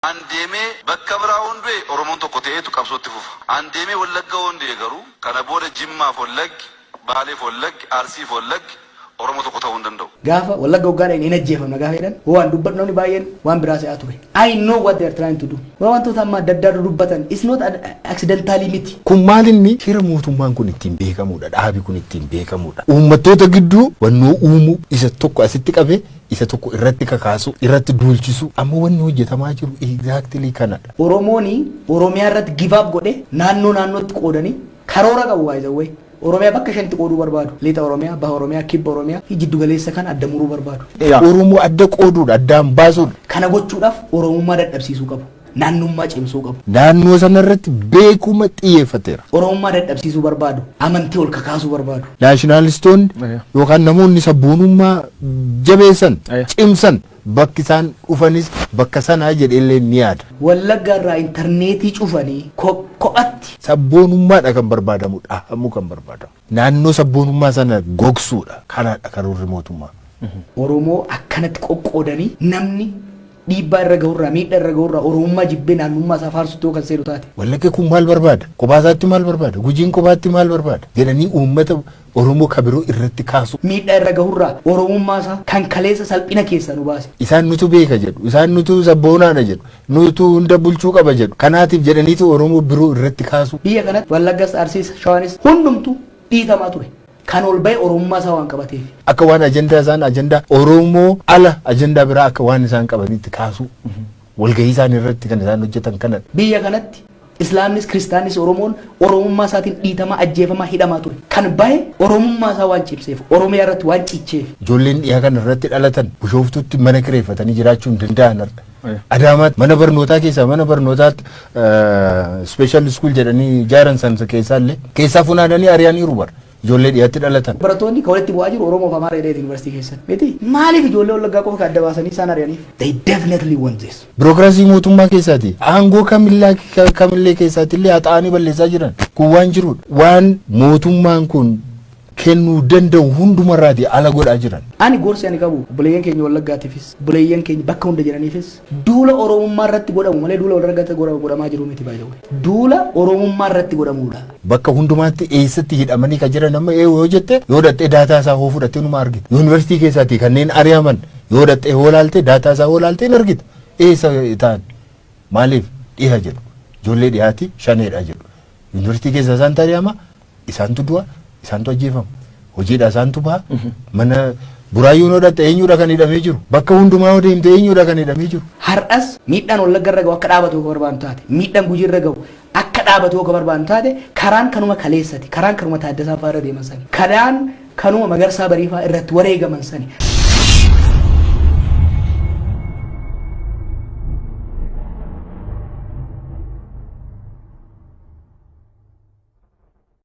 An deemee bakka biraa hoon du'e Oromoon tokko ta'eetu qabsoo itti fufa. An deemee Wallagga hoon du'e garuu kana booda Jimmaaf Wallaggi, Baaleef Wallaggi, Arsiif Wallaggi Oromoo tokko ta'uu hin danda'u. Gaafa Wallagga hoggaa dhaqne hin ajjeefamna gaafa jedhan waan dubbadhu namni baay'een waan biraa se'aa ture. I know what they are trying to do. Waa wantoota amma adda addaa dudubbatan it's not accidentally miti. Kun maal inni shira mootummaan kun ittiin beekamuudha, dhaabi kun ittiin beekamuudha. Uummattoota gidduu wannoo uumuu isa tokko asitti qabee isa tokko irratti kakaasu, irratti duulchisu amma wanni hojjetamaa jiru exactly kanadha. Oromooni Oromiyaa irratti give up godhe naannoo naannootti qoodani karoora qabu by the way. Oromiyaa bakka shanitti qooduu barbaadu. Lixa Oromiyaa, Baha Oromiyaa, Kibba Oromiyaa fi jiddu galeessa kana adda muruu barbaadu. Oromoo adda qooduudha, addaan baasuudha. Kana gochuudhaaf Oromummaa dadhabsiisuu qabu. naannummaa cimsuu qabu. naannoo sana irratti beekuma xiyyeeffateera. Oromummaa dadhabsiisuu barbaadu, amantii ol kakaasuu barbaadu. Naashinaalistoonni Aya. yookaan namoonni sabboonummaa jabeessan, Aya. cimsan bakki isaan dhufanis bakka sanaa jedheellee ni yaada. Wallagga irraa intarneetii cufanii ko- kophatti Sabboonummaadha kan barbaadamu, dhahamuu kan barbaadamu. Naannoo sabboonummaa sana gogsuudha. Kanaadha karoorri mootummaa. Oromoo akkanatti qoqqoodanii namni dhiibbaa irra gahurraa, miidhaa irra gahurraa Oromummaa jibbee naannummaa isaa faarsutti yoo kan seenu taate. Wallagga kun maal barbaada? Kophaa isaatti maal barbaada? Gujiin kophaatti maal barbaada? jedhanii uummata Oromoo ka biroo irratti kaasuu. miidhaa irra gahurraa Oromummaa isaa kan kaleessa salphina keessaa nu baase. Isaan nutu beeka jedhu, isaan nutu sabboonaadha jedhu. Nuutu hunda bulchuu qaba jedhu. Kanaatiif jedhaniitu Oromoo biroo irratti kaasu. Biyya kanatti Wallaggas, Arsiis, Shawaanis hundumtuu dhiitamaa ture. Kan ol ba'e Oromummaa isaa waan qabateefi. Akka waan ajandaa isaan ajandaa Oromoo ala ajandaa biraa akka waan isaan qabaniitti kaasuu. Walgahii isaanii irratti kan isaan hojjetan kanadha. Biyya kanatti Islaamnis Kiristaannis Oromoon Oromummaa isaatiin dhiitamaa, ajjeefamaa, hidhamaa ture. Kan bahe Oromummaa isaa waan cimseef, Oromiyaa irratti waan cicheef. Ijoolleen dhiha kana irratti dhalatan Bushooftuutti mana kireeffatanii jiraachuu hin danda'an har'a. Adaamaatti mana barnootaa keessaa mana barnootaatti special school jedhanii ijaaran san keessaa illee keessaa funaananii ari'aniiru bara. ijoollee dhiyatti dhalatan. Barattoonni ka walitti bu'aa jiru Oromoo fi Amaara jedheeti University keessatti. Miti? Maaliif ijoollee Wallaggaa qofa ka adda baasanii isaan ari'aniif? They definitely want this. Birookiraasii mootummaa keessaati. Aangoo kamillaa ka- kamillee keessaatti illee haxaa'anii balleessaa jiran. Kun waan jirudha. Waan mootummaan kun kennuu danda'u hundumarraati ala godhaa jiran. Ani gorsi ani qabu buleeyyan keenya Wallaggaatiifis, buleeyyan keenya bakka hunda jiraniifis Duula Oromummaa irratti godhamu malee duula walragatti godhamaa jiru miti by the way. Duula Oromummaa irratti godhamuudha. Bakka hundumaatti eessatti hidhamanii ka jiran amma eewu yoo jette yoo dhaqxee daataa isaa hoo fudhattee numa argita. Yuunivarsiitii keessaatii kanneen ari'aman yoo dhaqxee hoo laaltee daataa isaa hoo laaltee hin argita. Eessa ta'an? Maaliif dhiha jedhu? Ijoollee dhihaati shaneedha jedhu. Yuunivarsiitii keessaa isaantu ari'ama Isaantu du'a, isaantu ajjeefama. Hojiidhaa isaantu baha. Mana buraayyuu noo dhaqxe eenyuudha kan hidhamee jiru? Bakka hundumaa yoo deemte eenyuudha kan hidhamee jiru? Har'as miidhaan Wallagga irra gahu akka dhaabatu yoo ka barbaadnu taate, miidhaan Gujii irra gahu akka dhaabatu yoo ka barbaadnu taate, karaan kanuma kaleessati, karaan kanuma Taaddasaa fa'aa irra deeman sani, karaan kanuma Magarsaa Barii fa'aa irratti wareegaman sani.